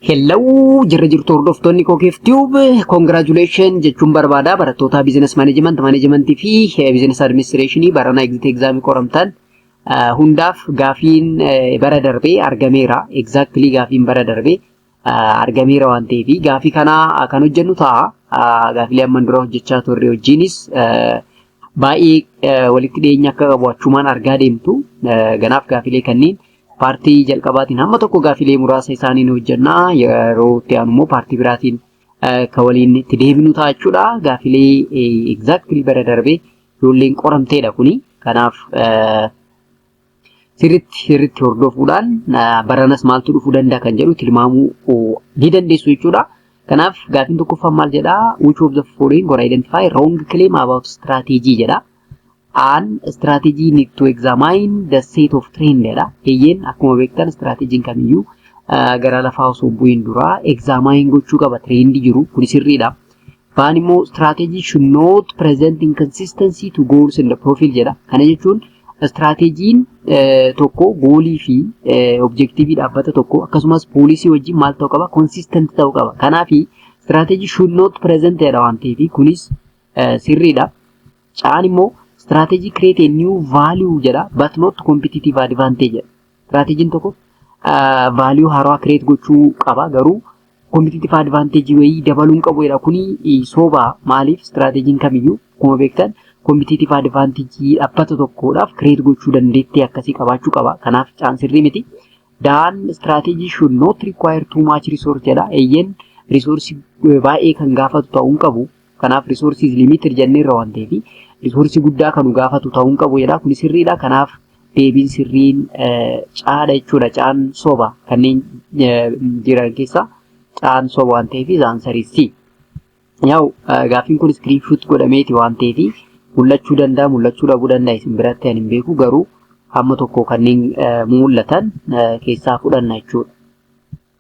Hello jirra jirtu hordoftoonni Kokeef Tube congratulation jechuun barbaada barattoota business management management fi business administration barana exit exam qoramtan hundaaf gaafiin bara darbe argameera exactly gaafiin bara darbe argameera waan ta'eef gaafii kana kan hojjennu ta'a gaafilee amman dura hojjechaa turre wajjiinis baay'ee walitti dhiyeenya akka qabu achumaan argaa deemtu ganaaf gaafilee kanniin Paartii jalqabaatiin hamma tokko gaafilee muraasa isaanii ni hojjenna. Yeroo itti aanu immoo paartii biraatiin kan waliin itti deebinu ta'a jechuudha. Gaafilee exactly bara darbee ijoolleen qoramteedha kuni. Kanaaf sirritti sirritti hordofuudhaan baranas maaltu dhufuu danda'a kan jedhu tilmaamuu ni dandeessu jechuudha. Kanaaf gaafiin tokkoffaan maal jedhaa? Which of the following or identify wrong claim about strategy jedhaa. An strategy need to examine the set of trend dha. Eeyyeen akkuma beektan strategiin kamiyyuu ah, gara lafaa osoo hin bu'iin dura examine gochuu qaba trend jiru kuni sirriidha. Baan immoo strategy should not present inconsistency to goals and profile jedha. Kana jechuun strategiin eh, tokko goolii fi eh, objektiivii dhaabbata tokko akkasumas poolisii wajjin maal ta'uu qaba consistent ta'uu qaba. Kanaafi strategy should not present jedha waan ta'eef kunis sirriidha. Caan immoo strategy create a new value jedha but not competitive advantage jedha. Strategiin tokko value haaraa create gochuu qaba garuu competitive advantage wayii dabaluu hin qabu jedha. Kuni soba maaliif strategiin kamiyyuu akkuma beektan competitive advantage dhaabbata tokkodhaaf create gochuu dandeettii akkasii qabaachuu qaba. Kanaaf caan sirrii miti. Daan strategy should not require too much resource jedha. Eeyyeen resource baay'ee kan gaafatu ta'uu hin qabu. Kanaaf resource is limited jennee irra waan ta'eef resource guddaa kan nu gaafatu ta'uu hin qabu jedha. Kun sirriidha. Kanaaf deebiin sirriin caadha jechuudha. Caan soba kanneen jiran keessaa caan soba waan ta'eef zaansariisti. Yaa'u gaaffiin kun iskiriin shuut godhameeti waan ta'eef mul'achuu danda'a mul'achuu dhabuu danda'a isin biratti ani hin beeku garuu hamma tokko kanneen mul'atan keessaa fudhanna jechuudha.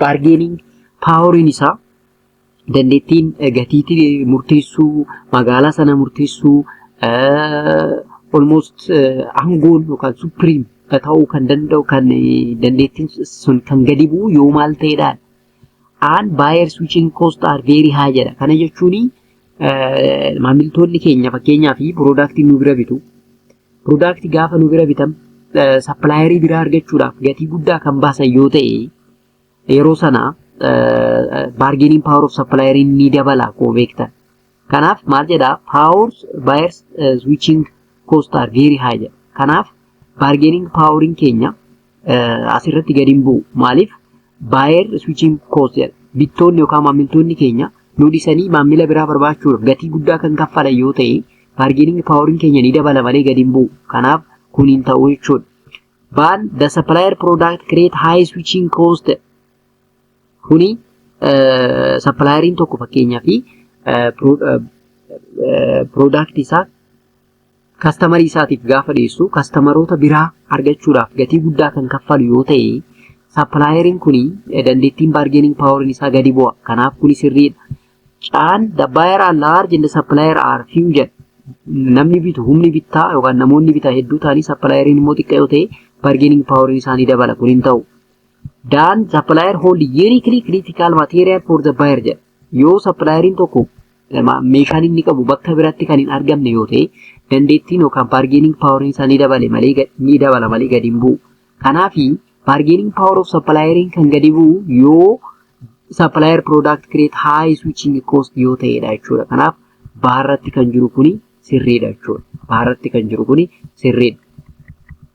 Baargeeniin paaworiin isaa dandeettiin gatiitii murteessuu, magaalaa sana murteessuu, almost aangoon yookaan supiriim ta'uu kan danda'u kan dandeettiin sun kan gadi bu'u yoo maal ta'edha. Aan baayer switching cost are very high jedha. Kana jechuun maamiltoonni keenya fakkeenyaaf piroodaaktii nu bira bitu Product gaafa nu bira bitan sappilaayeri biraa argachuudhaaf gatii guddaa kan baasan yoo ta'e yeroo sana baargeeniin paawar of sappilaayeriin ni dabala koo beektan. Kanaaf maal jedhaa paawars baayers switching cost are very high jedha. Kanaaf baargeeniin paawariin keenya asirratti gadi hin bu'u. Maaliif? Baayer switching cost jedha. Bittoonni yookaan maamiltoonni keenya nu dhisanii maamila biraa barbaachuudhaaf gatii guddaa kan kaffalan yoo ta'e baargeeniingi paaworiin keenya ni dabala malee gadi hin bu'u. Kanaaf kun hin ta'u jechuudha. Baan the supplier product create high switching cost kuni sappilaayeriin tokko fakkeenyaa fi product isaa kastamarii isaatiif gaafa dhiyeessu kastamaroota biraa argachuudhaaf gatii guddaa kan kaffalu yoo ta'e sappilaayeriin kun dandeettiin baargeening paaworiin isaa gadi bu'a. Kanaaf kun sirriidha. Caan the buyer are large and the supplier are few jedha. Namni bitu humni bittaa yookaan namoonni bitaa hedduu ta'anii sappilaayeriin immoo xiqqaa yoo ta'e baargeening paaworiin isaanii dabala kun hin ta'u. Daan sappilaayar hooldi yuuniikilii kiriitikaal maateeriyaal foor the buyer jedha. Yoo sappilaayeriin tokko meeshaan inni qabu bakka biratti kan hin argamne yoo ta'e dandeettiin yookaan baargeening paawariin isaa ni dabale malee ni dabala malee gadi hin bu'u. Kanaaf baargeening paawar of sappilaayeriin kan gadi bu'u yoo sappilaayar piroodaakti kireet haayi swiiching koost yoo ta'edha jechuudha. Kanaaf baarratti kan jiru kuni sirriidha jechuudha. Baarratti kan jiru kuni sirriidha.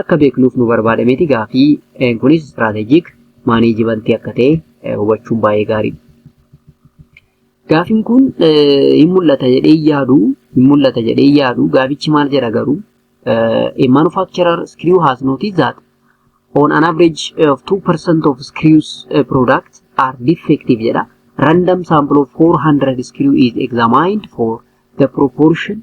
akka beeknuuf nu barbaada miti gaafii een kunis istiraatejik maaneejimantii akka ta'e eh, hubachuun baay'ee gaariidha. Gaafiin kun eh, hin mul'ata jedhee hin yaadu hin mul'ata jedhee hin yaadu gaafichi maal jedha garuu eh, a manufacturer screw has noticed that on an average of 2% of screws uh, product are defective jedha. Random sample of 400 screw is examined for the proportion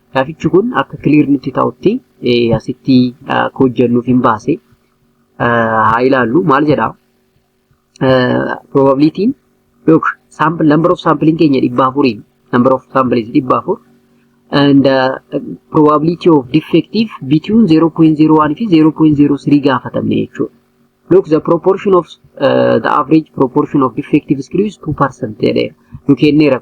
Gaafichi kun akka clear nutti ta'utti asitti akka hojjennuuf hin baase haa ilaallu maal jedha probabilitiin look sample number of sampling keenya dhibba afuriin number of samples dhibba afur and uh, probability of defective between 0.01 fi 0.03 gaafatamne jechuudha. Look the proportion of uh, the average proportion of defective screws 2% jedheera. Nu kenneera.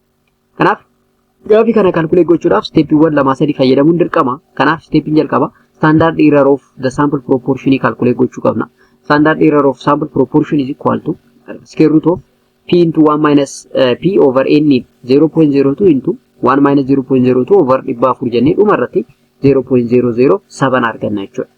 Kanaaf gaafii kana kalkulee gochuudhaaf isteeppiiwwan lamaa sadii fayyadamuun dirqama. Kanaaf isteeppiin jalqaba standard error of the sample proportion kalkulee gochuu qabna. Standard error of sample proportion is equal to square root of p into 1 minus uh, p over n 0.02 into 1 minus 0.02 over 400 jennee dhuma irratti 0.00 saban arganna jechuudha.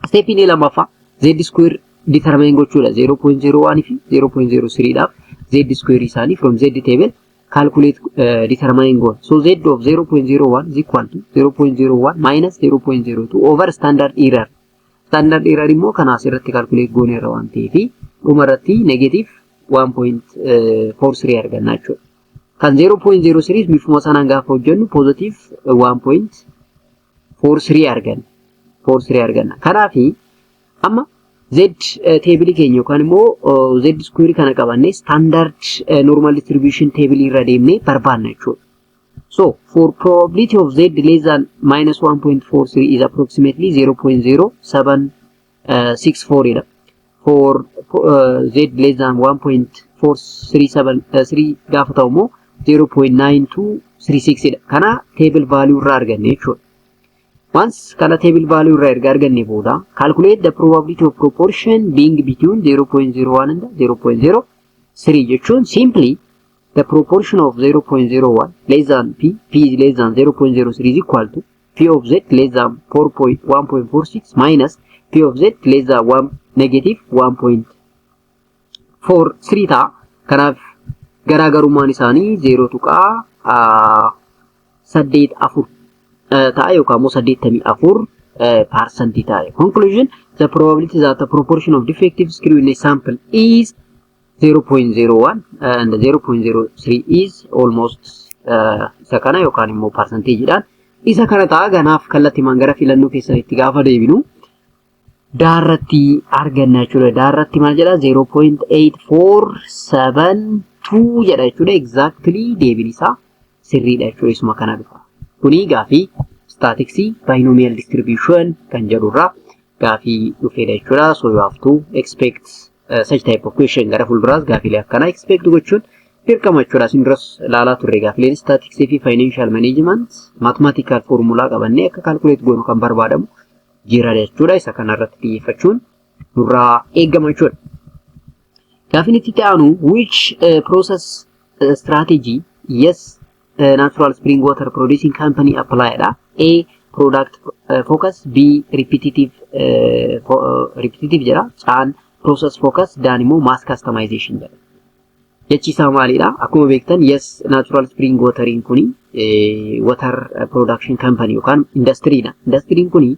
Step inni lammaffaa z square determine gochuudha 0.01 fi 0.03 dhaaf z square isaanii from z table calculate uh, determine goal. So z of 0.01 is equal to 0.01 minus 0.02 over standard error. Standard error immoo kana asirratti calculate goone irra waan ta'eef dhuma irratti negative 1.43 arganna jechuudha. Kan 0.03 bifuma sanaan gaafa hojjennu positive 1. for 3 arganna. for 3 arganna. Kanaaf amma Z teebilii keenya yookaan immoo Z square kana qabannee standard normal distribution teebilii irra deemnee barbaanna jechuudha. So for probability of Z less than minus 1.43 is approximately 0.07 6 4 dha for z less than 1.437 gaafa ta'u immoo 0.9236 dha kana table value irraa arganne jechuudha Once kana table value irraa erga arganne booda calculate the probability of proportion being between 0.01 and 0.03 jechuun simply the proportion of 0.01 less than p p is less than 0.03 is equal to p of z less than 4.1.46 minus p of z less than 1 negative 1.43 ta'a. Kanaaf garaagarummaan isaanii 0 tuqaa 84 ta'a yookaan immoo 84 parsantii ta'a. Conclusion the probability that the proportion of defective screw in a sample is 0.01 and 0.03 is almost uh, isa kana yookaan immoo parsanteejiidhaan isa kana ta'a ganaaf kallattimaan gara filannoo keessan itti gaafa deebinu daarratti arganna jechuudha. Daarratti maal jedha 0.8472 jedha jechuudha. Exactly deebiin isaa sirriidha jechuudha isuma kana dhufa. Kuni gaafii staatiksii binomial distribution kan jedhurraa gaafii dhufeedha jechuudha. So you have to expect uh, such type of question gara fuulduraas gaafiilee akkanaa expect gochuun dirqama jechuudha. Isin duras ilaalaa turre gaafiileen staatiksii fi financial management mathematical formula qabannee akka calculate goonu kan barbaadamu jira jechuudha. Isa kanarratti xiyyeeffachuun nurraa eegama jechuudha. Gaaffiin itti itti aanu which uh, process uh, strategy yes uh, natural spring water producing company apply dha. A product uh, focus B repetitive uh, fo, uh, repetitive jedha. Caan process focus daan immoo mass customization jedha. Jechi isaa maalidha? Akkuma beektan yes natural spring watering kuni eh, water production company yookaan industry dha. Industry kuni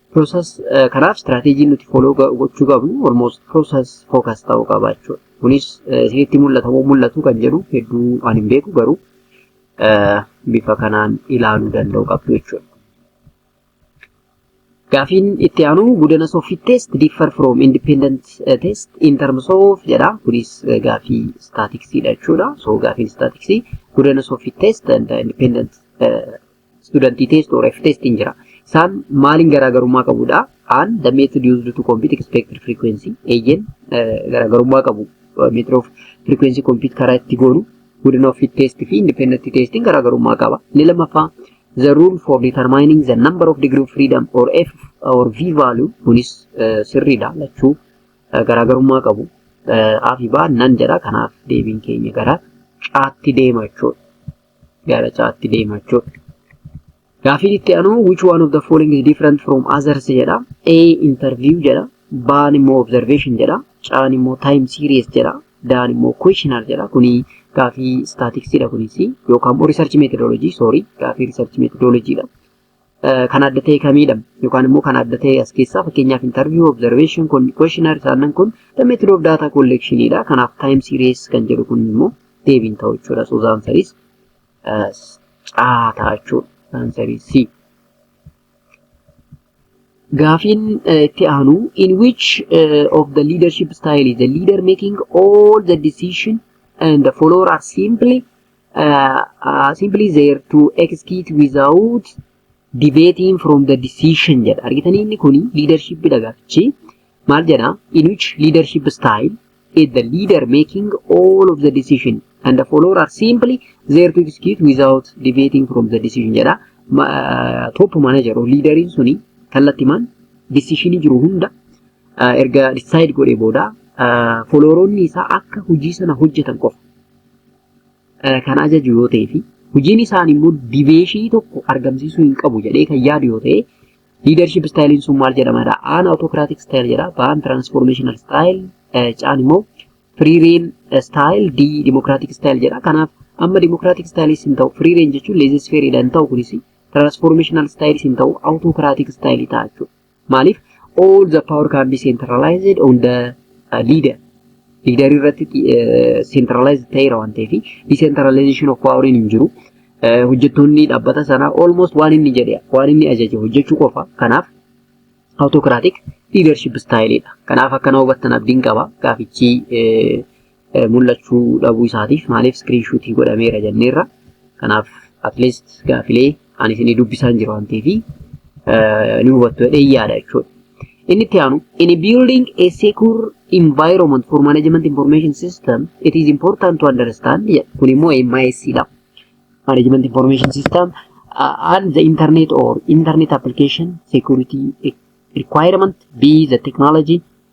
Process kanaaf strategy nuti follow gochuu qabnu almost process focus ta'uu qaba jechuudha. Kunis isinitti mul'ata moo mul'atu kan jedhu hedduu ani hin beeku garuu bifa kanaan ilaaluu danda'u qabdu jechuudha. Gaafiin itti aanu gudana soffit test differ from independent test in terms of jedha. Kunis gaafii staatiksiidha jechuudha. So gaafiin staatiksii gudana soffit test and independent Student test or F test hin jira. Isaan maaliin garaagarummaa qabudha? An the method used to compute expected frequency eeyyeen garaagarummaa qabu. Method of frequency compute karaa itti goonu wooden of fit test fi independent testiin garaagarummaa qaba. Inni lammaffaa the rule for determining the number of degree of freedom or F or V value kunis sirriidha lachuu garaagarummaa qabu. Afi baa nan jedha kanaaf deebiin keenya gara caatti deema jechuudha. gara caatti deema jechuudha. Gaafiin itti aanu which one of the following is different from others jedha. A interview jedha. Baan immoo observation jedha. Caan immoo time series jedha. Daan immoo questionnaire jedha. Kuni gaafii statistics dha kunis yookaan immoo research methodology sorry gaafii research methodology dha. kan adda ta'e kamiidha yookaan immoo kan adda ta'e as keessaa fakkeenyaaf interview observation kun questionnaire isaannan kun the method of data collection dha kanaaf time series kan jedhu kun immoo deebiin ta'u jechuudha so zaan series caa ta'a jechuudha zaan series c gaafiin itti aanu in which uh, of the leadership style is the leader making all the decision and the follower are simply uh, uh, simply there to execute without deviating from the decision jedha argitanii inni kun leadership dha gaafichi maal jedha in which leadership style is the leader making all of the decision and the follower are simply there to execute without deviating from the decision jedha Ma- uh, top manager or leaderiin suni kallattimaan decisionii jiru hunda uh, erga decide godhee booda uh, followeronni isaa akka hojii sana hojjetan qofa eh, kan ajaju yoo ta'ee fi hojiin isaanii immoo dibeeshii tokko argamsiisuu hin qabu jedhee kan yaadu yoo ta'e liidarship istaayiliin sun maal jedhamadha? Aan autocratic style jedha, baan transformational style, eh, caan immoo free reign style, D democratic style jedha. Kanaaf amma democratic styles hin ta'u, free reign jechuun laissez faire hin ta'u kunis transformational styles hin ta'u, autocratic style ta'a jechuudha. Maaliif all the power can be centralized on the uh, leader. Leader irratti centralized ta'eera waan ta'eef decentralization of power hin jiru. Hojjettoonni dhaabbata sanaa almost waan inni jedhe waan inni ajaje hojjechuu qofa. Kanaaf autocratic leadership style dha. Kanaaf akkana hubattan abdiin qaba. Gaafichi mul'achuu dhabuu isaatiif maaliif iskiriinshuutii godhameera jenneerra. Kanaaf atleast gaafilee ani isinii dubbisaan jiru waan ta'eef ni hubattu jedhee yaada jechuudha. Inni itti aanu in building a secure environment for management information system it is important to understand jedha. Kun immoo MIS dha. Management information system uh, and the internet or internet application security requirement be the technology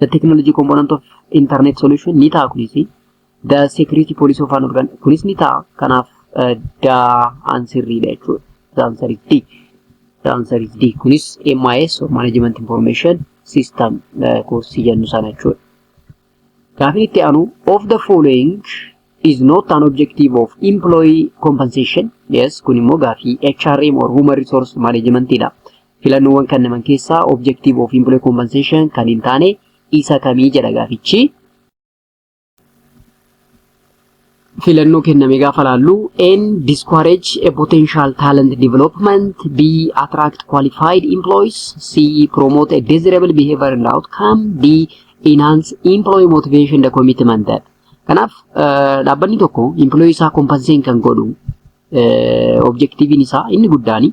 the technology component of internet solution ni ta'a kunis the security policy of an organ kunis ni ta'a kanaaf the answer dha jechuudha the answer is D the answer is D kunis MIS or management information system koorsii jennu sana jechuudha gaafin itti aanu of the following is not an objective of employee compensation yes kun immoo gaafii HRM or human resource management dha Filannoowwan kannaman keessaa objective of employee compensation kan hin taane isa kamii jedha gaafichi. filannoo kenname gaafa laallu N discourage a potential talent development B attract qualified employees C promote a desirable behavior and outcome D enhance employee motivation the commitment that kanaaf dhaabbanni tokko employee isaa compensate kan godhu Objektiiviin isaa inni guddaan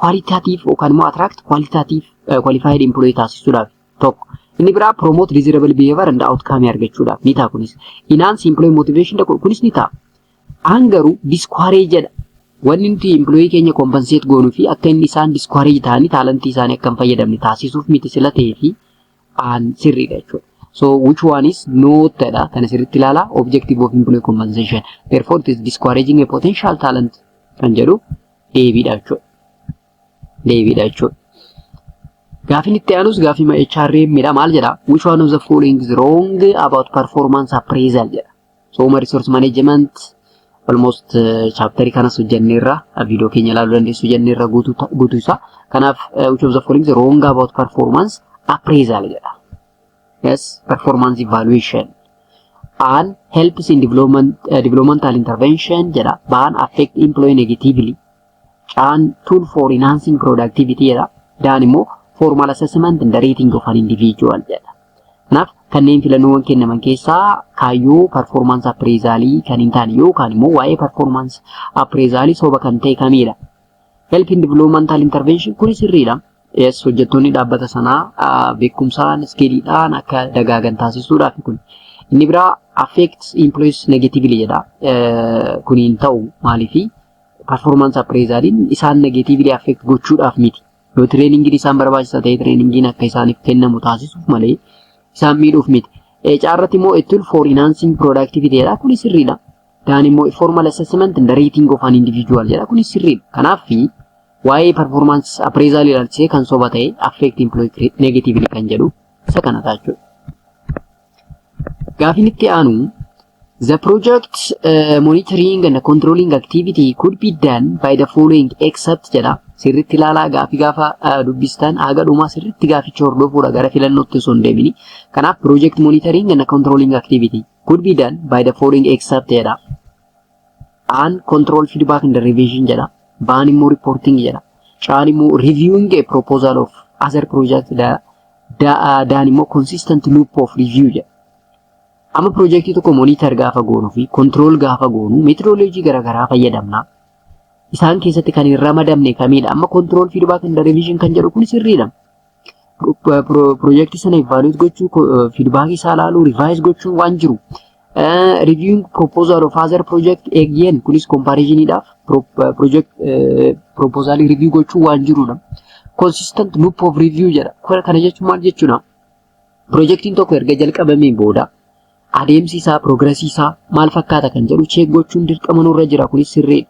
kwaalitaatiif yookaan immoo atiraakti kwaalitaatiif kwaalifaayiid impiloyii taasisuudhaaf tokko. Inni biraa promote desirable behavior and outcome argachuudhaaf ni ta'a kunis. Enhance employee motivation dha kunis ni ta'a. Aan garuu discourage jedha. Wanni nuti employee keenya compensate goonuu fi akka inni isaan discourage ta'anii taalantii isaanii akka hin fayyadamne taasisuuf miti sila ta'ee fi aan sirriidha jechuudha. So which one is not jedha kana sirriitti ilaala objective of employee compensation therefore it is discouraging a potential talent kan jedhu deebiidha jechuudha. Deebiidha jechuudha. Gaafiin itti aanus gaafii HRM dha maal jedha which one of the following is wrong about performance appraisal jedha Sooma Resource Management almost chaaptarii kanas hojjenneerra viidiyoo keenya ilaaluu dandeessu jenneerra guutuu isaa. Kanaaf which of the following is wrong about performance appraisal jedha. Yes, performance evaluation and helps in development, uh, developmental intervention jedha. Ban affect employee negatively. Caan tool for enhancing productivity jedha. Daan immoo formal assessment and rating of an individual jedha. Kanaaf kanneen filannoowwan kennaman keessaa kaayyoo performance appraisal kan hin taane yookaan immoo waa'ee performance appraisal soba kan ta'e kamiidha. Help in developmental intervention kuni sirriidha. Yes, hojjettoonni dhaabbata sanaa beekumsaan iskiiliidhaan akka dagaagan taasisuudhaaf kun. Inni biraa affects employees negatively jedha. Kuni hin ta'u maaliifi? performance appraisaliin isaan negatively affect gochuudhaaf miti. Yoo trainingiin isaan barbaachisa ta'e trainingiin akka isaaniif kennamu taasisuuf malee isaan miidhuuf miti. HR irratti immoo it will for enhancing productivity jedha kunis sirriidha. Daan immoo formal assessment and rating of an individual jedha kunis sirriidha. Kanaaf waa'ee performance appraisal ilaalchisee kan soba ta'e affect employee negatively kan jedhu isa kana ta'a jechuudha. Gaafiin itti aanu The project uh, monitoring and controlling activity could be done by the following except jedha. Sirriitti ilaalaa gaaffii gaafa uh, dubbistan haga dhumaa sirriitti gaaficha hordofuudha gara filannootti osoo hin deemini. Kanaaf project monitoring and controlling activity could be done by the following except jedha. An control feedback and revision jedha. Baan immoo reporting jedha. Caan immoo reviewing a proposal of other project jedha. Daan immoo consistent loop of review jedha. Amma piroojeektii tokko monitor gaafa goonuu fi control gaafa goonu methodology garaagaraa fayyadamna. Isaan keessatti kan hin ramadamne kamiidha? Amma control feedback and revision kan jedhu kun sirriidha. Piroojeektii sana evaluate gochuu, feedback isaa ilaaluu, revise gochuun waan jiru. Reviewing proposal of other project again kunis comparisoniidhaaf project proposal review gochuu waan jirudha. Consistent loop of review jedha. Kana jechuun maal jechuudha? Pirojektiin tokko erga jalqabamee booda adeemsi isaa, piroogirasii isaa maal fakkaata kan jedhu cheek gochuun dirqama nurra jira. Kunis sirriidha.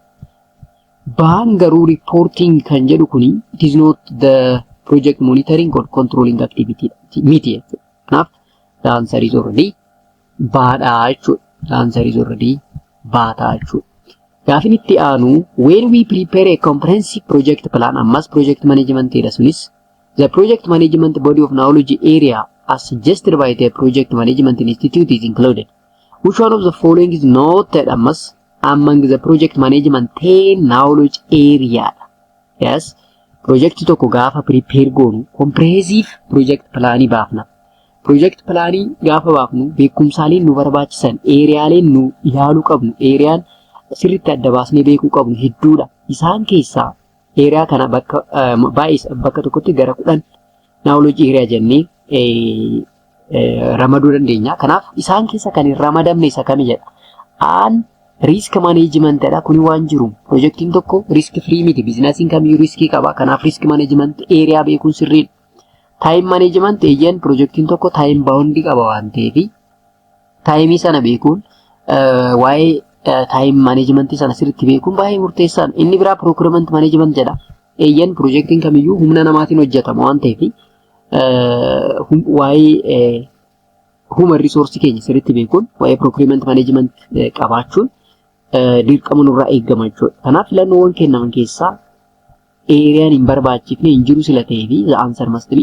Baan garuu reporting kan jedhu kuni it is not the project monitoring or controlling activity miti jechuudha. Kanaaf the answer is already baadha jechuudha. The answer is already baata jechuudha. Gaafin itti aanu when we prepare a comprehensive project plan ammas project management dha sunis The Project Management Body of Knowledge Area as suggested by the Project Management Institute is included. Which one of the following is noted ammas among the project management ten knowledge area? Yes, project tokko gaafa prepare goonu comprehensive project plan baafna. Project plan gaafa baafnu beekumsaaleen nu barbaachisan eeriyaaleen nu ilaaluu qabnu eeriyaan sirriitti adda baasnee beekuu qabnu hedduudha. Isaan keessaa Eeriyaa kana bakka baay'isa bakka tokkotti gara kudhan naawoloojii eeriyaa jennee ramaduu dandeenya. Kanaaf isaan keessa kan hin ramadamne isa kami jedha. Aan riisk maneejimantidha. Kuni waan jiru pirojektiin tokko riisk firii miti. Biizinasiin kamiyyuu riiskii qaba. Kanaaf riisk maneejimant eeriyaa beekuun sirriidha. Taayim maneejimant eeyyeen pirojektiin tokko taayim baawundii qaba waan ta'eefi Taayimii sana beekuun waa'ee taayim maaneejimantii sana sirriitti beekuun baay'ee murteessaadha. Inni biraa pirookirement maaneejiment jedha. Eeyyan piroojeektiin kamiyyuu humna namaatiin hojjetama waan ta'eef waa'ee human resource keenya sirriitti beekuun waa'ee pirookirement maaneejiment qabaachuun dirqama nurraa eegama jechuudha. Kanaaf filannoowwan kennaman keessaa eeriyaan hin barbaachifne hin jiru sila ta'ee fi the answer must be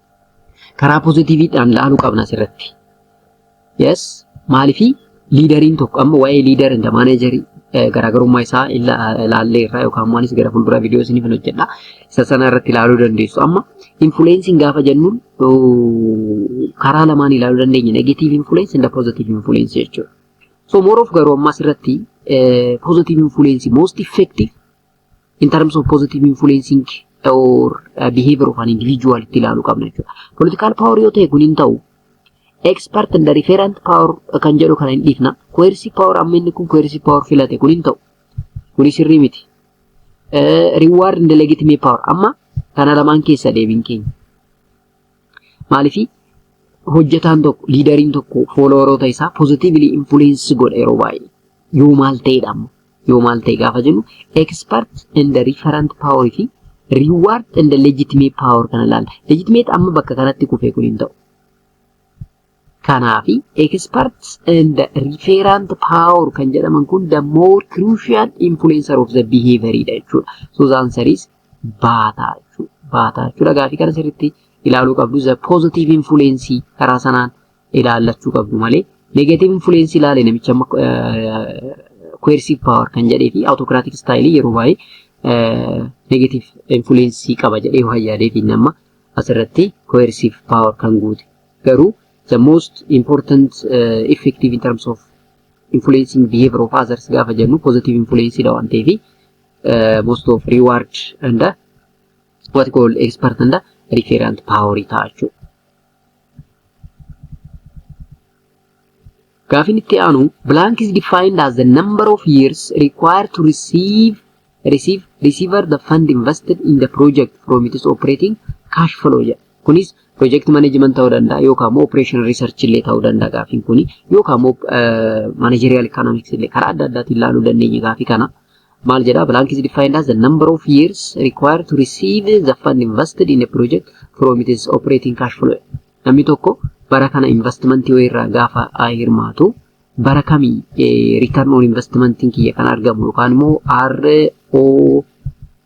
Karaa pozitiiviidhaan laaluu qabna asirratti. Yes, maalifi liidariin tokko amma waa'ee liidar inda maaneejarii garaagarummaa isaa ilaallee irraa yookaan immoo anis gara fuulduraa viidiyoo isiniif hin hojjedha. Isa sana irratti ilaaluu dandeessu. Amma infuuleensiin gaafa jennu karaa lamaan ilaaluu dandeenya. Negatiiv infuuleensi inda pozitiiv infuuleensi jechuudha. So mooroof garuu ammas irratti pozitiiv infuuleensi most effective in terms of positive influencing or uh, behavior of an individual itti ilaalu qabna jechuudha. Political power yoo ta'e kun hin ta'u. Expert and referent power kan jedhu kana hin dhiifna. Coercive power amma inni kun coercive power filate kun hin ta'u. Kuni sirrii miti. Uh, reward and legitimate power amma kana lamaan keessa deebiin keenya. Maalifi hojjetaan tokko liidariin tokko foolowaroota isaa positively influence godha yeroo baay'ee yoo maal ta'edha amma yoo maal ta'e gaafa jennu expert and referent power fi reward and legitimate power kana ilaalla. Legitimate amma bakka kanatti kufee kun hin ta'u. Kanaaf expert and referent power kan jedhaman kun the more crucial influencer of the behavior dha jechuudha. So the answer is baataa jechuudha. Baataa jechuudha. Gaafii kana sirriitti ilaaluu qabdu the positive influence karaa sanaan ilaallachuu qabdu malee negative influence ilaale namicha amma coercive power kan jedhee fi autocratic style yeroo baay'ee negative influence qaba jedhee waan yaadee fi nama asirratti coercive power kan guute garuu the most important uh, effective in terms of influencing behavior of others gaafa jennu positive influence dha waan ta'eef uh, most of reward and uh, what called expert and uh, referent power ta'a jechuudha. Gaafin itti aanu blank is defined as the number of years required to receive receive receiver the fund invested in the project from its operating cash flow jedha. Kunis project management ta'uu danda'a yookaan immoo operation research illee ta'uu danda'a gaafin kuni yookaan immoo managerial economics illee karaa adda addaatiin ilaaluu dandeenya gaafii kana. maal jedha blank is defined as the number of years required to receive the fund invested in a project from its operating cash flow namni tokko bara kana investmentii wayii irraa gaafa hirmaatu bara kamii return on investmentiin kiyya kan argamu yookaan immoo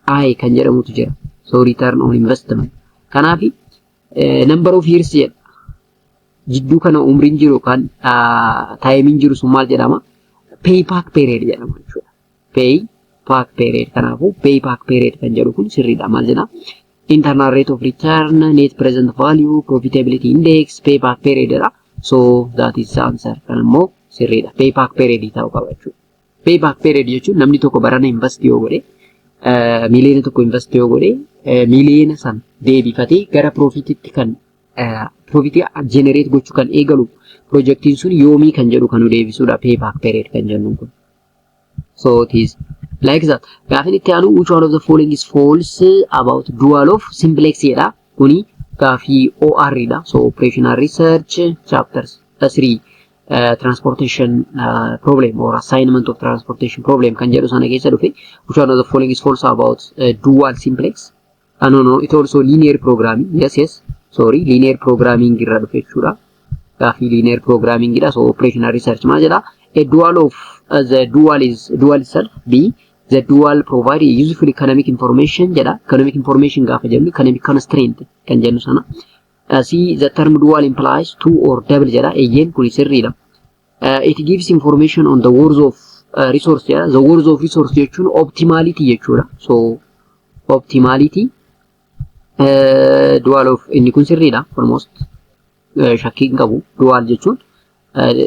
ROI kan jedhamutu jira so return on investment kanaaf number of years jedha jidduu kana umriin jiru yookaan taayimiin jiru sun maal jedhama? Pay back period jedhama jechuudha. Pay back period kanaafuu pay back period kan jedhu kun sirriidha maal jedha? Internal rate of return, net present value, profitability index, pay back period jedha. So that is the answer. Kan immoo sirriidha. Pay back period ta'uu qaba jechuudha. Payback period jechuun namni tokko barana invest yoo godhe miiliyoona tokko invest yoo godhe miiliyoona san deebifatee gara piroofiititti kan piroofiitii jenereet gochuu kan eegalu piroojeektiin sun yoomii kan jedhu kan nu deebisudha payback period kan jennu kun. So it is like that. Gaafin itti aanu which one of the following is false about dual of simplex jedha. Kuni gaafii OR dha. So operational research chapters 3 transportation uh, problem or assignment of transportation problem kan jedhu sana keessa dhufe which one of the following is false about uh, dual simplex uh, no no it also linear programming yes yes sorry linear programming irra dhufe jechuudha gaafii linear programming dha so operational research maal jedha a dual of uh, the dual is dual itself b the dual provide a useful economic information jedha economic information gaafa jennu economic constraint kan jennu sana C the term dual implies two or double jedha. Eeyyeen kuni sirriidha. Uh, it gives information on the worth of uh, resource jedha. The worth of resource jechuun optimality jechuudha. So optimality uh, dual of inni kun sirriidha almost uh, shakkii hin qabu. Dual jechuun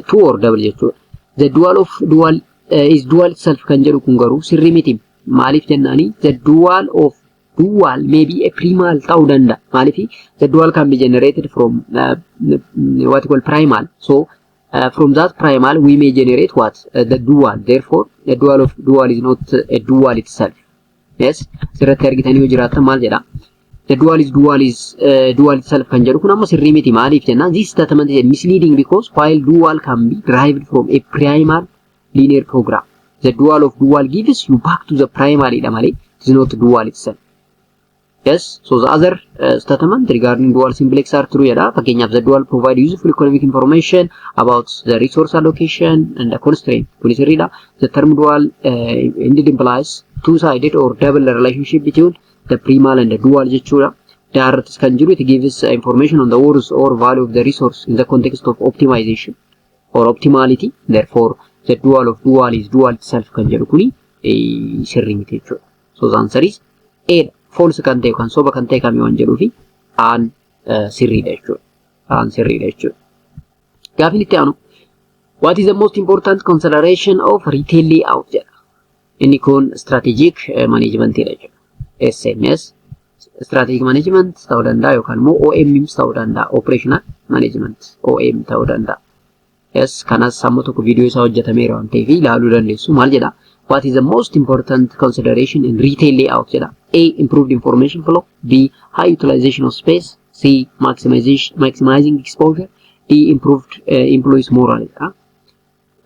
two or double jechuudha. The dual of dual uh, is dual itself kan jedhu kun garuu sirrii miti. Maaliif jennaani the dual of dual may be a primal ta'uu danda'a. Maaliif the dual can be generated from uh, what we call primal. So uh, from that primal we may generate what uh, the dual. Therefore the dual of dual is not a dual itself. Yes, asirratti argitanii yoo jiraattan maal jedha? The dual is dual is uh, dual itself kan jedhu kun amma sirrii miti maaliif jennaan this statement is misleading because while dual can be derived from a primal linear program the dual of dual gives you back to the primal dha malee it is not dual itself. Yes, so the other uh, statement regarding dual simplex are true jedha. Fakkeenyaaf the dual provide useful economic information about the resource allocation and the constraint. Kuni sirriidha. The term dual uh, indeed implies two-sided or double relationship between the primal and the dual jechuudha. Daarrattis kan jiru it gives uh, information on the worth or value of the resource in the context of optimization or optimality. Therefore, the dual of dual is dual itself kan jedhu kuni eh, sirrii miti jechuudha. So the answer is A dha. False kan ta'e kan soba kan ta'e kami waan jedhuu fi Aan sirriidha jechuudha. Aan sirriidha jechuudha. Gaafiin itti aanu What is the most important consideration of retail layout jedha. Inni kun strategic management dha jechuudha. SMS strategic management ta'uu danda'a yookaan immoo OMMs ta'uu danda'a. Operational management OM ta'uu danda'a. Yes, kanas amma tokko viidiyoo isaa hojjetameera waan ta'eef ilaaluu dandeessu. Maal jedha? What is the most important consideration in retail layout jedha. A. Improved information flow. B. High utilization of space. C. Maximization, maximizing exposure. D. Improved uh, employees morale jedha.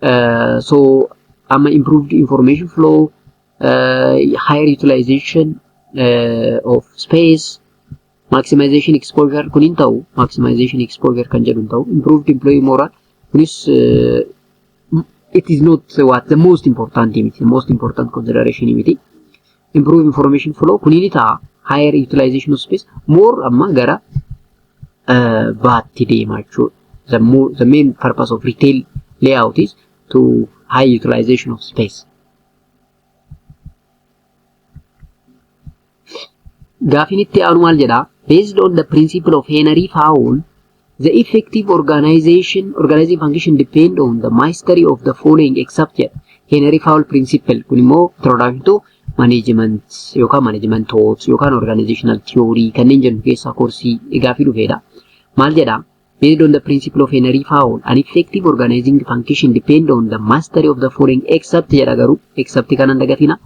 Uh, so, amma improved information flow, uh, higher utilization uh, of space, Maximization exposure kun hin ta'u. Maximization exposure kan jedhu hin ta'u. Improved employee morale kunis it is not what the most important miti. The most important consideration miti. Improve information flow kun ni ta'a. Higher utilization of space more amma gara baatti deema jechuudha. The, more, the main purpose of retail layout is to high utilization of space. Gaafiin itti aanu maal jedha? Based on the principle of Henry Fowle, the effective organization, organizing function depend on the mastery of the following except jedha. Henry Fowle principle kun immoo introduction to management yookaan management thought yookaan organizational theory kanneen jennu keessaa koorsii gaafii dhufeedha. Maal jedha? Based on the principle of Henry Fowl, an effective organizing function depend on the mastery of the following except jedha garuu except kana hin dagatina.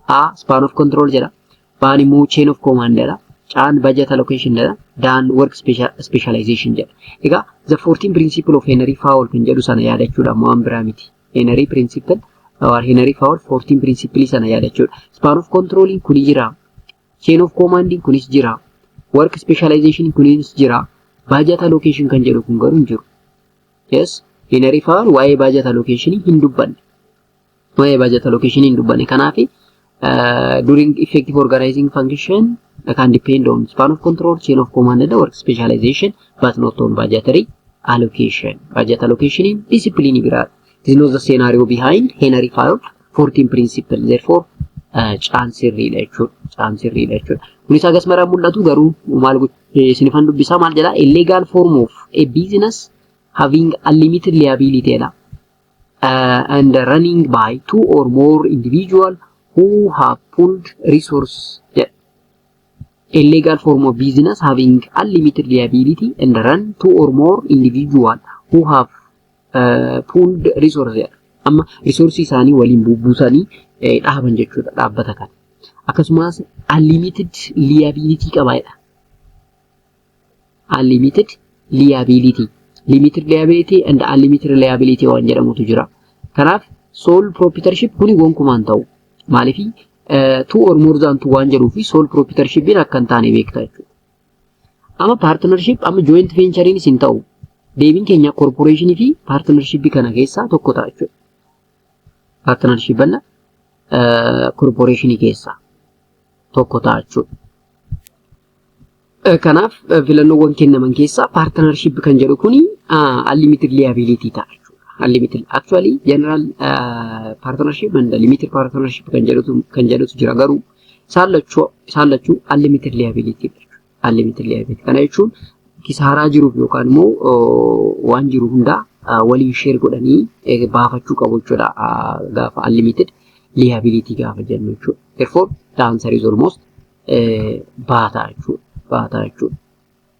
A span of control jedha. Baan immoo chain of command jedha. Caan budget allocation jedha. Daan work specia- specialization jedha. Egaa the 14 principle of Henry Fowl kan jedhu sana yaadachuudha waan biraa miti. Henry principle or Henry Fowl 14 principle sana yaadachuudha. Span of control kuni jira. Chain of command kunis jira. Work specialization kunis jira. Budget allocation kan jedhu kun garuu hin jiru. Yes, in refer waa'ee budget allocation hin dubbanne. Waa'ee budget allocation hin dubbanne. Kanaaf uh, during effective organizing function can depend on span of control, chain of command and work specialization but not on budgetary allocation. Budget allocation discipline biraadha. This is not the scenario behind Henry Fayol 14 principle therefore caan sirriidha jechuudha. Caan sirriidha jechuudha. Kunis hagas maraan mul'atu garuu maal isinifan dubbisaa maal jedhaa a legal form of a business having unlimited liability jedha. Uh, and running by two or more individual who have pulled resource jedha. A legal form of business having unlimited liability and run two or more individual who have pooled resource jedha. Amma resource isaanii waliin buusanii dhaaban jechuudha dhaabbata kana. Akkasumas unlimited liability qaba jedha. Unlimited liability. Limited liability and unlimited liability waan jedhamutu jira. Kanaaf sole proprietorship kuni gonkumaan ta'u. Maaliif two or more than two waan jedhuu fi sole proprietorshipin akka hin taane beekta jechuudha. Amma paartinarshiip amma jooyinti veenchariin isin ta'u deebiin keenya korporeeshinii fi paartinarshiippii kana keessaa tokko ta'a jechuudha. Paartinarshiippanna korporeeshinii keessaa tokko ta'a jechuudha. Kanaaf filannoowwan kennaman keessaa paartinarshiip kan jedhu kuni unlimited liability ta'a jechuudha. Unlimited actually general paartinarshiip and limited paartinarshiip kan jedhutu kan jedhutu jira garuu Isaan lachuu isaan lachuu unlimited liability unlimited liability kana jechuun kisaaraa jiruuf yookaan immoo waan jiru hundaa waliin sheer godhanii baafachuu qabu jechuudha gaafa unlimited liability gaafa jennu jechuudha. Therefore the answer is almost baataa jechuudha. Baataa jechuudha.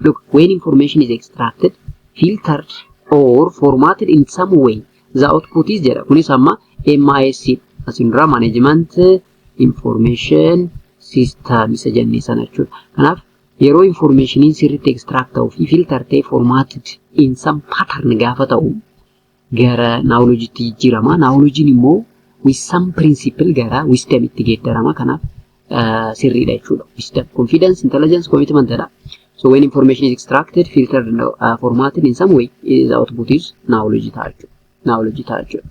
Look, when information is extracted, filtered or formatted in some way, the output is jedha. Kunis amma MIS asin dura management information system isa jennee sana jechuudha. Kanaaf yeroo informationiin sirriitti extract ta'uu fi filter ta'ee formatted in some pattern gaafa ta'u gara naawolojiitti jijjiirama. Naawolojiin immoo wisdom principle gara wisdom itti geeddarama. Kanaaf sirriidha jechuudha. Wisdom, confidence, intelligence, commitment dha. So when information is extracted, filtered, and uh, formatted in some way, the output is knowledge ta'a jechuudha. Knowledge ta'a jechuudha.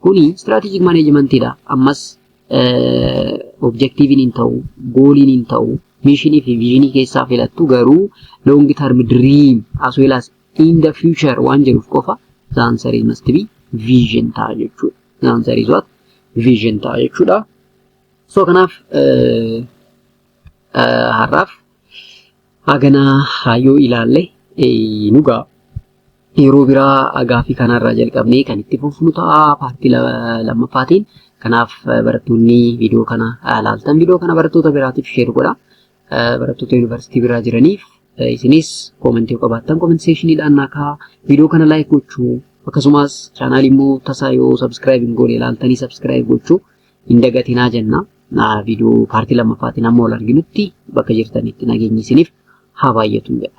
Kuni strategic management dha. Ammas objektiiviin hin ta'u, gooliin hin ta'u, miishinii fi viizhinii keessaa filattu garuu long term dream as well as in the future waan jedhuuf qofa the answer is must be vision ta'a jechuudha. The answer is what? Vision ta'a jechuudha. So kanaaf har'aaf Haganaa haa yoo ilaalle eh, nugaa yeroo biraa gaaffii kanarraa jalqabnee kan itti fufnu ta'a paartii la- lammaffaatiin. Kanaaf eh, barattoonni viidiyoo kana eh, laaltan viidiyoo kana barattoota biraatiif sheer godha. Eh, Barattoota yuunivarsiitii biraa jiraniif eh, isinis koomentii yoo qabaattan koomentii seekshiniidhaan naa kaa'aa. Viidiyoo kana laayik gochuu akkasumas chaanaalii immoo tasaa yoo sabskiraayib hin goone ilaaltanii sabskiraayib gochuu hin dagatinaa jenna. Viidiyoo paartii lammaffaatiin amma wal arginutti bakka jirtanitti nageenyi isiniif haa baay'atu jedha.